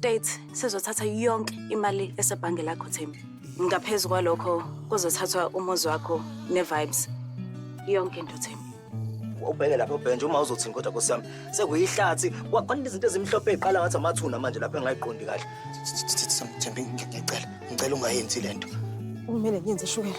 State sizothatha yonke imali esebhange lakho Thembi. Ngaphezu kwalokho kuzothathwa umuzi wakho ne-vibes. Yonke into Thembi. ubheke lapha ubhenje uma uzothini kodwa nkosi yami sekuyihlathi Kwa- kwaningi izinto ezimhlophe ey'qala ngathi amathuna manje lapho engayiqondi kahle Thembi ngicela ngicela ungayenzi le nto Kumele ngenze shukela.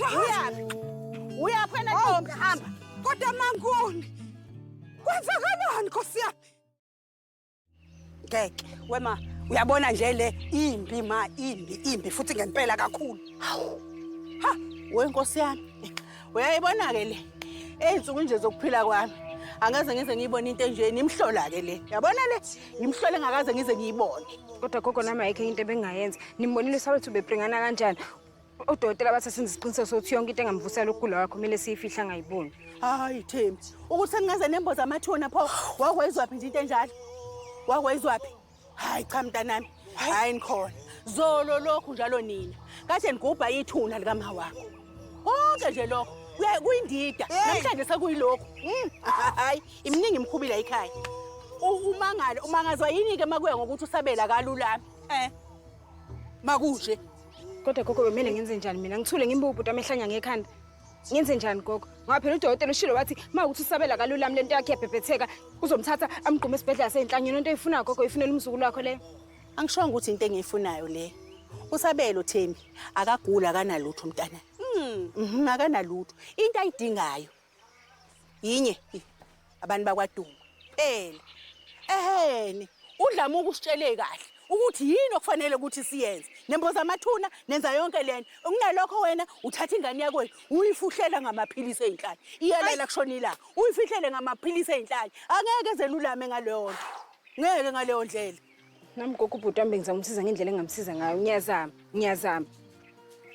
Uyaphi? Uyaphi wena ntombi? Hamba. Kodwa manguni. Kwenzakalani Nkosi yami? Ngeke wema uyabona nje le imbi ma imbi imbi futhi ngempela kakhulu. Hawu. Ha, we Nkosi yami. Uyayibona ke le. Ezinsuku nje zokuphila kwami. Angeze ngize ngiyibone into enje nimhlola ke le. Yabona le? Ngimhlole ngakaze ngize ngiyibone. kodwa gogo nami ayikho enye into ebengingayenza nimbonile usawethu bebringana kanjani odokotela bathi senze isiqiniseko sokuthi yonke into engamvusela ukugula kwakho kumele siyifihle angayiboni hayi thembi ukuthi sengingaze nemboza amathuna pho wakwayizwaphi nje into enjalo wakwayizwaphi hayi cha mntanami hayi nikhona zolo lokhu njalo nina kade nigubha ithuna likama wakho konke nje lokho kuyindida namhlanje sekuyilokhu hmm. hayi iminingi imkhubila ekhaya umangalo umangazwa yini-ke makuya ngokuthi usabela kalulami um eh. makunje Kodwa gogo bemele ngenze njani mina? Ngithule ngimbuke ubhuti amehlanya ngekhanda. Ngenze njani gogo? Ngoba phela udokotela ushilo wathi uma ukuthi usabela kalulami lento yakhe yabhebhetheka uzomthatha amgqume esibhedlela seyinhlanyelo into eyifunayo gogo ifunela umzukulu wakho leyo. Angishongo ukuthi into engiyifunayo le. Usabelo Thembi akagula akanalutho umntana. Mhm akanalutho. Into ayidingayo yinye abantu bakwaDuma phela eheni udlama ukusitshele kahle ukuthi yini okufanele ukuthi siyenze nemboza amathuna nenza yonke lento kunalokho wena uthatha ingane yakwenu uyifuhlela ngamaphilisi ezinhlali iyalela kushona ilanga uyifihlele ngamaphilisi ezinhlali angeke zelulame ngaleyo nto ngeke ngaleyo ndlela Nami gogo ubhuti wami bengizama umsiza ngendlela engamsiza ngayo. Ngiyazama, ngiyazama.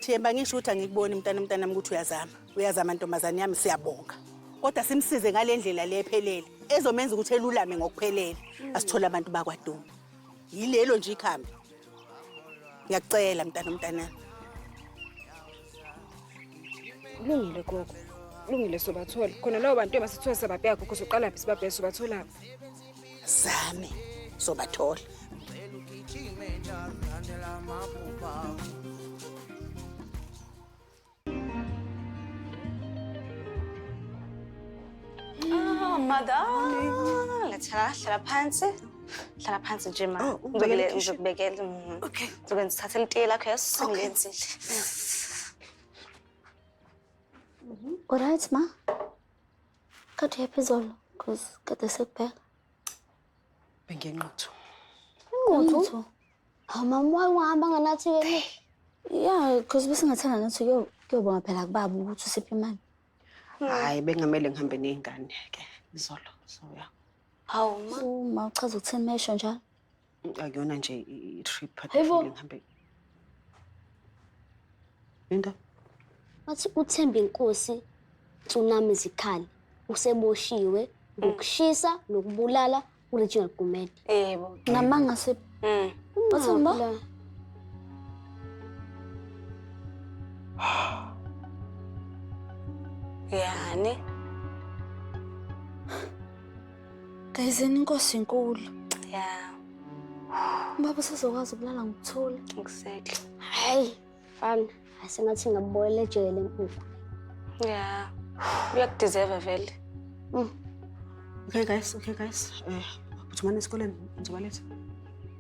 Themba ngisho ukuthi angikuboni mntana mntanami ukuthi uyazama. Uyazama ntombazane yami siyabonga. Kodwa simsize ngale ndlela le ephelele ezomenza ukuthi elulame ngokuphelele. Asithole abantu bakwaDuma. Yilelo nje ikhambi. Ngiyakucela mntana mntanami. Kulungile gogo. Kulungile sobathola. Khona lawo bantu emasithiwa sababheka gogo soqala phi sibabheke sobatholaphi. zami sobathola Oh, madam. Ngithela hlala phansi. Hlala phansi nje ma. Oh, ubekele Ngizobele- ikhishini. Ngizokubekela. mm. Okay. Ngizokwenza uthathe litiye lakho yeso ngenzile. Alright ma. Kade uyaphi izolo? Cause kade sekubheka. Bengenquthu. Inquthu? Hawu mama waye wahamba nganathi ke. Yeah, cause besingathanda nathi kuyobonga phela kubaba ukuthi usiphi imali. Hayi bengamele ngihambe nezingane ke izolo. So yeah. Hawu ma, ma uchaza ukuthini mesho njalo? Akuyona nje i-trip Hayibo. phakathi ngihambe. Into Wathi uthemba inkosi tsunami zikhali useboshiwe ngokushisa nokubulala uReginald Gumede. Yebo. Ngamanga se Mm. Wathemba? Ungabulala. Yani. Gayizeni inkosi inkulu. Ya. Ubaba usezokwazi ukulala ngokuthula. Exactly. Hayi. Fana. Asengathi ngabuboyela ejele enkulu. Ya. Uyakudeserve vele. Mm. Okay guys, okay guys. Eh, uh, uthumana esikoleni ngizobaletha.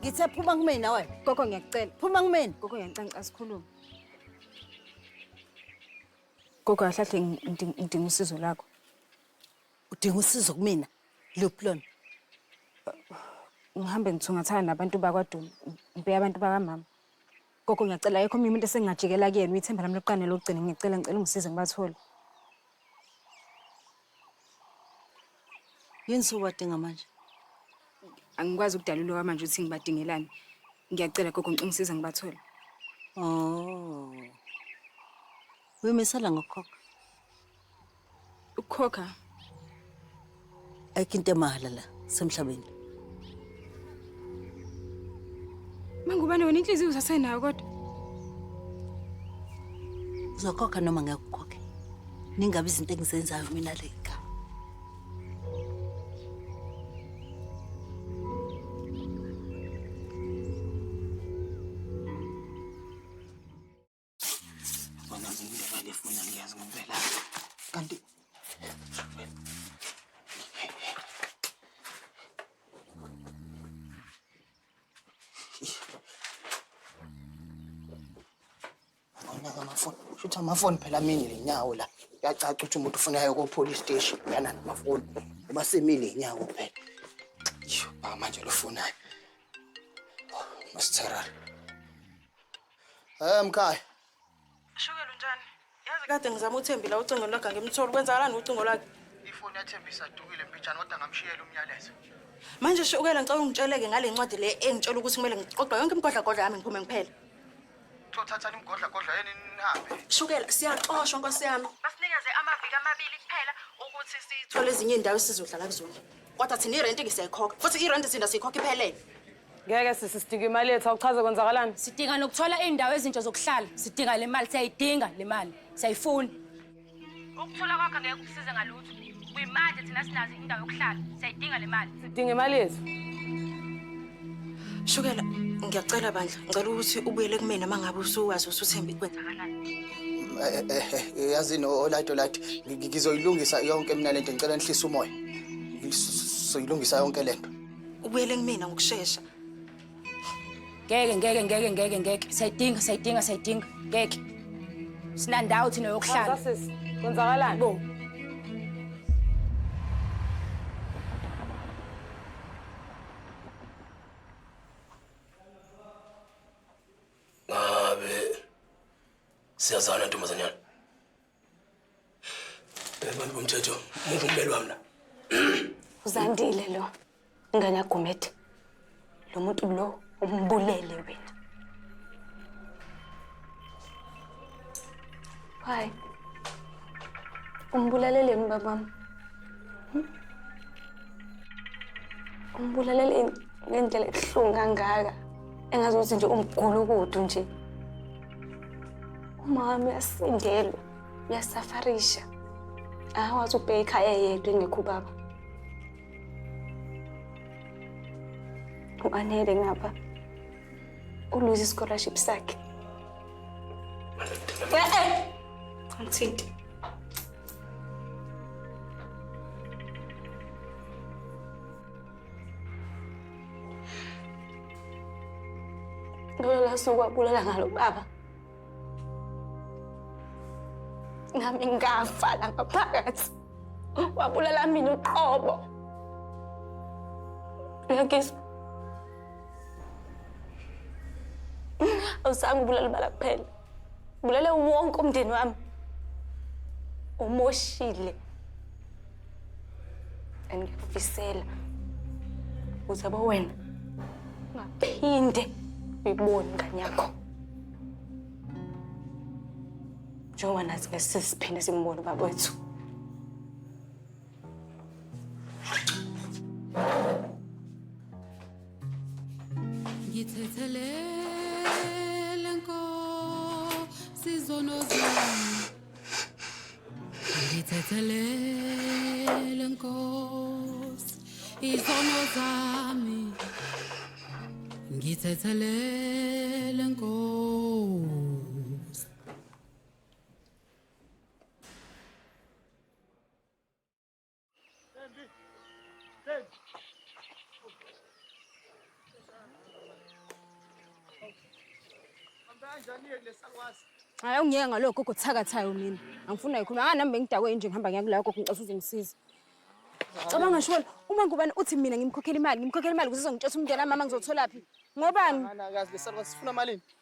Ngithe phuma kumina nawe. Gogo ngiyakucela. Phuma kumina. Gogo ngiyakucela ngicela sikhulume. Gogo ahlahle ngidinga usizo lakho. Udinga usizo kumina? Luphi lona? Ngihambe ngithungathana nabantu bakwaDuma. Ngibheka abantu bakamama. Gogo ngiyacela yekho mina umuntu esengingajikela kuyena uyithemba lami lokuqala nelokugcina ngiyacela ngicela ungisize ngibathole. Yini sobadinga manje? Angikwazi ukudalula kwamanje ukuthi ngibadingelani. Ngiyacela gogo ngicela ungisize ngibathole. Oh. Uyomisela ngokukhokha. Ukukhokha? Ayikho into emahhala la semhlabeni. Mangubane wena inhliziyo usasenayo kodwa. Uzokhokha noma ngeke ukhokhe. Ningabe izinto engizenzayo mina le ekhaya. Bona ngindlela lefuna ngiyazi ngempela. Kanti Ngaka amafoni. Shuthi amafoni phela amini lenyawo la. Yacaca ukuthi umuntu ufunayo ko police station yana namafoni. Uba semile inyawo phela. Yho, manje lofunayo. Masithara. Eh mkhaya. Shukela unjani? Yazi kade ngizama uThembi la ucingo lwakhe ngimtholi. Kwenzakalani ucingo lwakhe? Ifoni yaThembi isadukile mpitshana kodwa ngamshiyela umyalezo. Manje Shukela ngicela ungitsheleke ngale ncwadi le engitshela ukuthi kumele ngiqoqa yonke imigodlagodla yami ngiphume ngiphele. Thothathani imigodla kodwa yini nihambe. Shukela siyaxoshwa nkosi yami. Basinikeze amaviki amabili kuphela ukuthi sitho Thola ezinye indawo esizodlala kuzona. Kodwa thina irent ke siyayikhokha. Futhi irent thina siyikhokha iphelele. Ngeke sisi sidinga imali yethu awuchaze kwenzakalani? Sidinga nokuthola iindawo ezintsha zokuhlala. Sidinga le mali, siyayidinga le mali. Siyayifuna. Ukuthola kwakho ngeke kusize ngalutho. Kuyimanje thina sinazo indawo yokuhlala. Siyayidinga le mali. Sidinga imali yethu. Shukela, ngiyacela bandla. Ngicela ukuthi ubuyele kumina uma ngabe usuwazi usuthembe kwenzakalani. Eh, eh, eh, yazini olite olite ngizoyilungisa yonke mina lento ngicela nihlise umoya soyilungisa yonke lento ubuyele kumina ngokushesha ngeke ngeke ngeke ngeke ngeke sayidinga sayidinga sayidinga ngeke sinandawo thina yokuhlala sisi kwenzakalani bo ngabe siyazana ntombazanyana Abantu bomthetho, muphi ummeli wami la? Uzandile lo. Ingane yaGumede. Lo muntu lo umbulele wena. Hayi. Umbulaleleni babami? Hmm? Umbulaleleni ngendlela ebuhlungu kangaka. Engazuthi nje umgulukudu nje. Umama uyasindelwa, uyasafarisha. Akakwazi ukubheka ikhaya yedwa engekho ubaba. U-Anele ngapha uluze i-scholarship sakhe. Eh-eh! Angithinti. Ngalolo suku wabulala ngalo baba, nami ngafa la ngaphakathi. Wabulala mina uqobo. Uyakizwa? Awuzange ubulale ubala kuphela, ubulale wonke umndeni wami, umoshile. and ngiyakufisela ukuze bo wena ungaphinde uyibone ingane yakho njengoba nathi besisiphinde simbone ubaba wethu ngithethelele nkosi zono zami Ngithethelele Nkosi izono zami Ngithethelele Nkosi Hayi ungiyeke ngaloko gogo thakathayo mina. Angifuna yikhuluma. Anga nami bengidakwe nje ngihamba ngiya kulayo gogo ngicela uzongisiza. Cabanga shona uma ngubani uthi mina ngimkhokhela imali, ngimkhokhela imali kuze uzongitshela umntwana mama ngizothola phi? Ngobani? Ngana kazi lesalwa sifuna malini?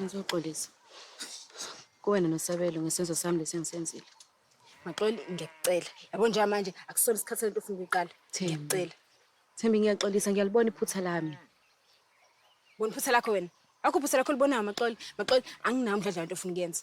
Ngizoxolisa kuwena nosabelo ngesenzo sami lesi engisenzile. Maxoli ngiyakucela. Yabo njengamanje akusona isikhathi lento ofuna ukuyiqala. Thembi. Ngiyakucela. Thembi ngiyaxolisa ngiyalibona iphutha lami. Bona iphutha lakho wena. Akho iphutha lakho libonayo Maxoli. Maxoli anginawo umdladla wento ofuna ukuyenza.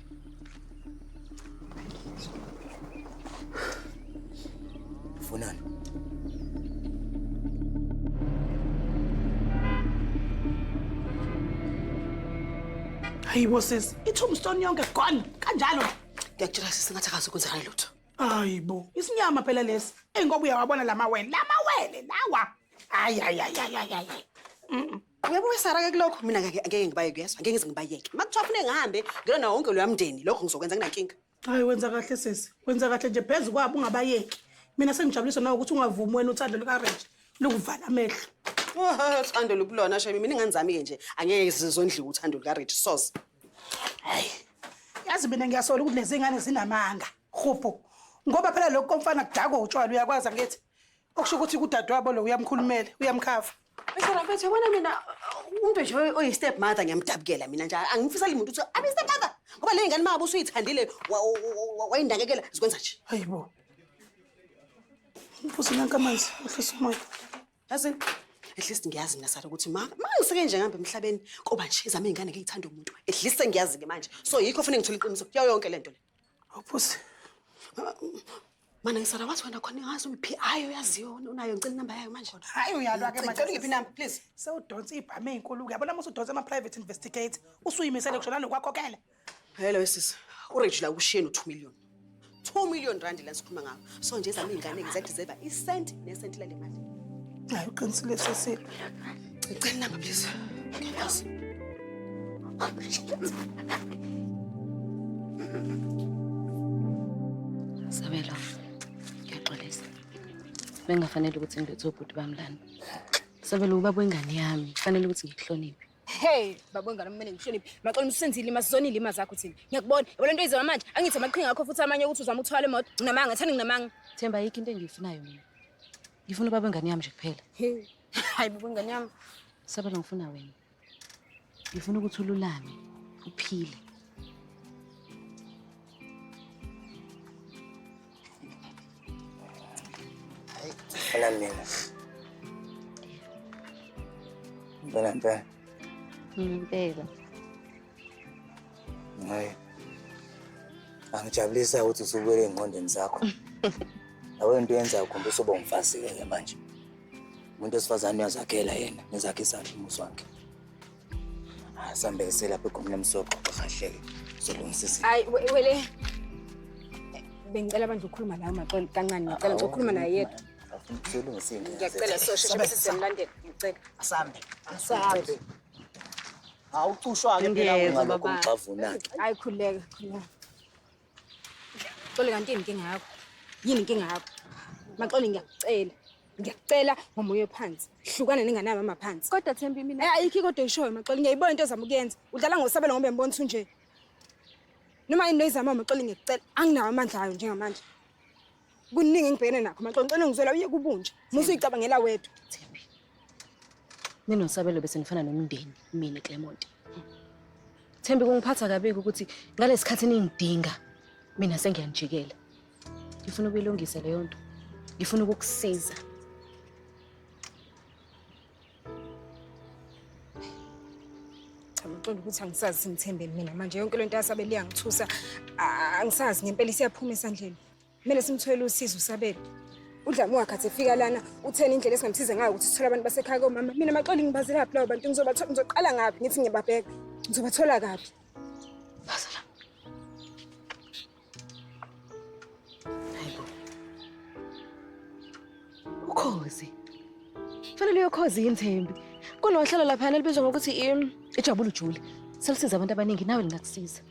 Funani. Hayi bo sisi, i-tombstone yonke gone kanjalo. Ngiyakutshela sisi ngathi akazi ukwenzakala lutho. Hayi bo, isinyama phela lesi. Engoba uyawabona lamawele, lamawele lawa. Hayi hayi hayi hayi hayi. Uyabona Sara ke kulokho mina ngeke ngeke ngibayeke uyezwa ngeke ngize ngibayeke. Makuthiwa fune ngihambe ngilona wonke loya mndeni lokho ngizokwenza nginankinga. Hayi wenza kahle sisi. Wenza kahle nje phezu kwabo ungabayeki. Mina sengijabuliswa nawe ukuthi ungavumi wena uthando lukaRange lukuvala amehlo. Oh, uthando lukulona shame mina ingane zami ke nje angeke zizondliwa uthando lukaRich soze. Hayi. Yazi mina ngiyasola ukuthi lezi ngane zinamanga. Khupho. Ngoba phela lokho komfana kudakwa utshwala uyakwazi angithi. okusho ukuthi kudadewabo lo uyamkhulumela uyamkhava Bese bafethu yabona mina umuntu nje oyi step mother ngiyamdabukela mina nje angifisali muntu ukuthi abe step mother ngoba le ngane mabo usuyithandile wa- wa- wa- wa- wayindakekela zikwenza nje hayibo mfuzi nanka amanzi uhlisa umoya yazi at least ngiyazi mina sala ukuthi ma ma ngiseke nje ngihambe emhlabeni koba nje izame ingane ngiyithanda umuntu at least sengiyazi ke manje so yikho fanele ngithole iqiniso kuyo yonke lento le Awuphuzi. Mana ngisala wathi wena khona ngazi umiphi hayi uyaziyo unayo ngicela inamba yayo manje. Hayi uyalwa ke manje ngiphi inamba please. Sewudonsa ibhame ezinkulu ke yabona musu udonsa ama private investigate usuyimisele kushona nokwakhokela. Hello sisi. Uregila ushiyeni 2 million. 2 million rand la sikhuluma ngawo. so nje zami iy'ngane ngizadeserva isenti nesenti lale mali hayi uqinisile sesile cela inamba please sabelo ngiyaxolisa bengafanele ukuthi ngilethwe ubhuti bami lana sabelo ubaba wengane yami kufanele ukuthi ngikuhloniphe Hey, babo ngane kumele ngihloniphe. Maxola umsenzile ima sizona ilima zakho thina. Ngiyakubona. Yabo lento izona manje. Angithi amaqhinga akho futhi amanye ukuthi uzama ukuthwala imoto. Nginamanga, thani nginamanga. Themba yikho into engiyifunayo mina. Ngifuna ubaba ngane yami nje kuphela. Hayi babo ngane yami. Saba lo ngifuna wena. Ngifuna ukuthi ululame, uphile. Falan değil. Falan falan. Hmm, değil. Hayır. Angijabulisa ukuthi usubuyele ey'ngqondweni zakho. Lawe nto yenza ukhomba usuba umfazi-ke manje. Umuntu wesifazane uyazakhela yena, ngizakhe isandla umuzi wakhe. Sambe selapha egumeni lomsoco kahle-ke uzolungisa izinto. Hayi we- wele. Bengicela bandla ukukhuluma nawe maxolo kancane ngicela nje ukukhuluma naye yedwa. Afuna ukuzolungisa izinto. Ngiyacela so sheshe bese siyamulandela ngicela. Asambe. Asambe. Awucushwa-ke phela Ngiyezwa, ungalokhu baba. ungixavunake. Hayi khuleka khuleka. Xoli kanti yini inkinga yakho? Yini inkinga yakho? Maxoli ngiyakucela. Ngiyakucela ngomoya ophansi. Hlukana nengane yami amaphansi. Kodwa Thembi mina Eh ayikho kodwa ishoyo Maxoli ngiyayibona into ozama ukuyenza. Udlala ngosabelo ngoba ngibona ukuthi unje. Noma yini noyizama Maxoli ngiyacela. Anginawo amandla ayo njengamanje. Kuningi engibhekene nakho manje ngicela ngizwela uye kubunje. Musa uyicabangela wedwa. Thembi. Mina nosabelo bese nifana nomndeni mina Clement. Thembi kungiphatha kabi ukuthi ngalesikhathi ningidinga mina sengiyanijikela. Ngifuna ukuyilungisa leyo nto. Ngifuna ukukusiza. ngicela ukuthi angisazi simthembeni mina manje yonke lento yasabe liyangithusa angisazi ngempela isiyaphuma esandleni kumele simthwele usizo usabele udlame wakhe athi efika lana utheni indlela esingamsiza ngayo ukuthi sithole abantu basekhaya komama mina maxoli ngibazelaphi lawo bantu ngizobathola ngizoqala ngaphi ngithi ngiyababheka ngizobathola kaphi ukhozi fanele uyokhozi yini thembi kunohlelo laphana elibizwa ngokuthi i- ijabula ujule selisiza abantu abaningi nawe lingakusiza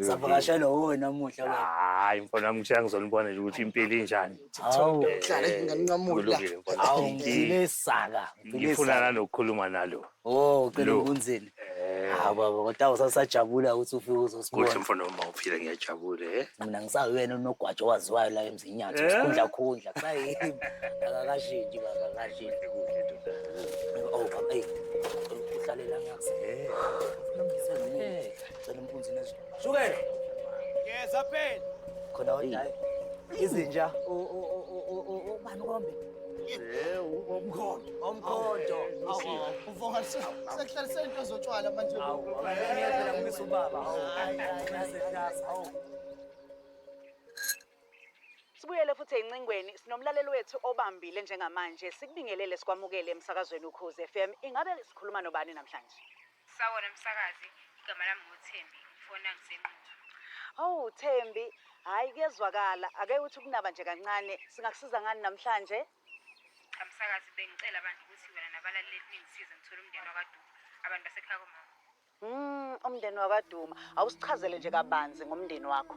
Savakashelwa wuwe namuhla wena. Hayi mfana wami ngishaya ngizonibona nje ukuthi impilo injani. Hawu. Hlala nginganqamula. Kulungile mfana. Hawu wami. ngifile isaka. Ngifile Ngifuna isaka. nanokukhuluma nalo. Oh, cela Lo. ukunzini. Hawu baba kodwa usasajabula ukuthi ufike Kuhle uzosibona. mfana wami mawuphila ngiyajabula eh. Mina ngisawuyena unogwaja owaziwayo la emzinyatho. Eh? Sikhundla khundla. Kusayimi. Akakashinji baba akakashinji. Oh, baba, hey. Uhlalela ngakusiphela. Cela umpunzi nezwi. Shukela. Ngeza phela. Khona odayi. Izinja. Ubani kombe? Yebo, umkhondo. Umkhondo. Uvonga sekuhlala sento zotshwala manje. Awu, ngiyabela kumisa ubaba. Awu, ngase ngase. Awu. Sibuyele futhi encingweni sinomlaleli wethu obambile njengamanje sikubingelele sikwamukele emsakazweni ukhozi FM ingabe sikhuluma nobani namhlanje Sawona msakazi, igama lami nguThembi, ngifona ngiseNquthu. Awu Thembi, hhayi kuyezwakala. Ake uthi ukunaba nje kancane. Singakusiza ngani namhlanje? Cha msakazi, bengicela bandla ukuthi wena nabalaleli ningisize ngithole umndeni wakwaDuma, abantu basekhaya komama. Mm, umndeni wakwaDuma. Awusichazele nje kabanzi ngomndeni wakho.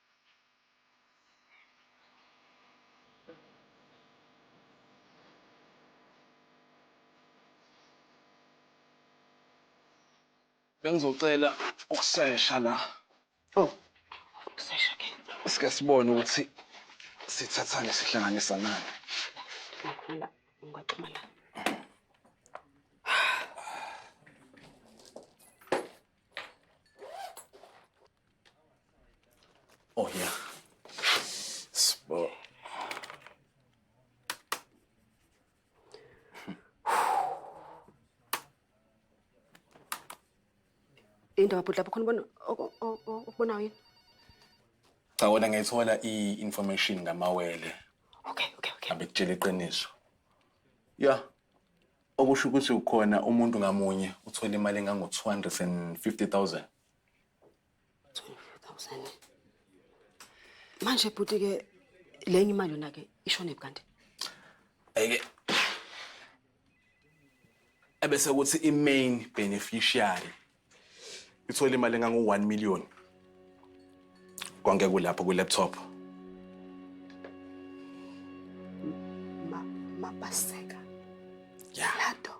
Bengizocela ukusesha la. Oh, ukusesha ke. Sike sibone ukuthi sithathane sihlanganisa nani. Ngicela ungaxhuma la. Oh yeah. Sbo. Indaba bhuti lapho khona ubona oku- o- o- okubonayo yini? Cha wena ngayithola i-information ngamawele Okay, okay, okay. abekutshela iqiniso. Yeah. Okusho ukuthi khona umuntu ngamunye uthola imali engango-250,000. 250,000. Manje bhuti ke lenye imali yona ke ishone kanti. Ayike. Ebese kuthi imain beneficiary Ngithole imali engangu-1 million. Konke kulapho kwi-laptop. Ma, mapaseka. Ya. Lato.